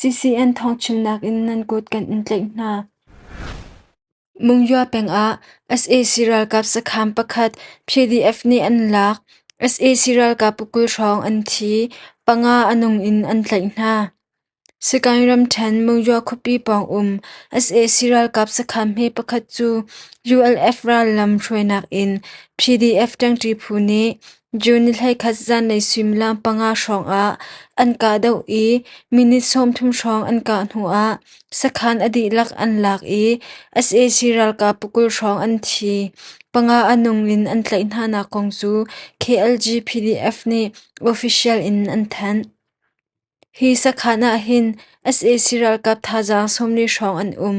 CCN thawngchimnak in nan kut kan in tlaih hna. Mungyua pengah sac ralkap sakham pakhat PDF nih an lak, sac ralkap kul hrawng an thi, panga a nung in an tlaih hna. Sagaing ramṭhen Mungyua khuapi pawng um sac ralkap sakham hme pakhat cu ULF rallam hruainak in PDF ṭangṭi phu nih June ni hleikhat zanlei suimilam panga hrawngah an kahdoh i minute sawmthum hrawng an kah hnuah sakhan a dihlak an lak i sac ralkap pakul hrawng an thi. Panga a nung in an tlaih hnanak kong cu KLG PDF nih official in an thanh. Hi sakhan ah hin sac ralkap thazaang sawmli hrawng an um.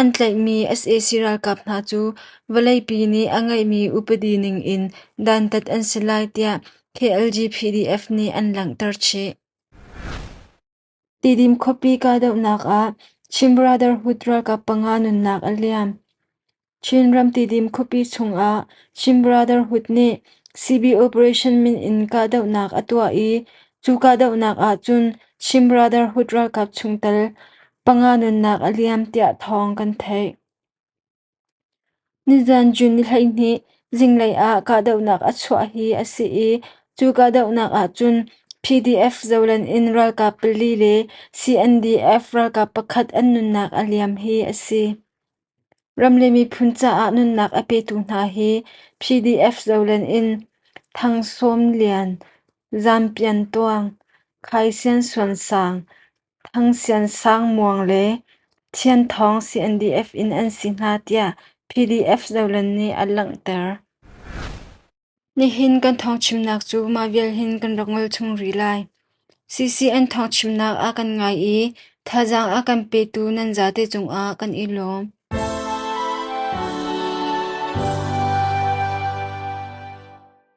An tlaihmi sac ralkap hna cu vawleipi nih a ngeihmi upadi ningin dantat an si lai tiah KLGPDF nih an langhter chih. Tidim khuapi kahdohnak ah Chin Brotherhood ralkap panga nunnak a liam. Chin ram Tidim khuapi chungah Chin Brotherhood nih CB Operation min in kahdohnak a tuah i cu kahdohnak ahcun Chin Brotherhood ralkap chungtel panga nunnak a liam tiah thawng kan theih. Nizan June ni hleihnih zinglei ah kahdohnak a chuah hi a si i cu kahdohnak ahcun PDF zolen in ralkap pali le CNDF ralkap pakhat an nunnak a liam hi a si. Ram le miphun caah nunnak a petu hna hi PDF zolen in Thang Sawm Lian, Zam Pian Tuang, Khai Sian Suan Sang, Thang Sian Sang Muang le Thian Thawng CNDF in an si hna tiah PDF zolen nih an langhter. Nihin kan thawngchimnak cu mah vial hin kan rak ngol chung rih lai. CCN thawngchimnak ah kan ngai i thazaang a kan petu nan zate cungah kan i lawm.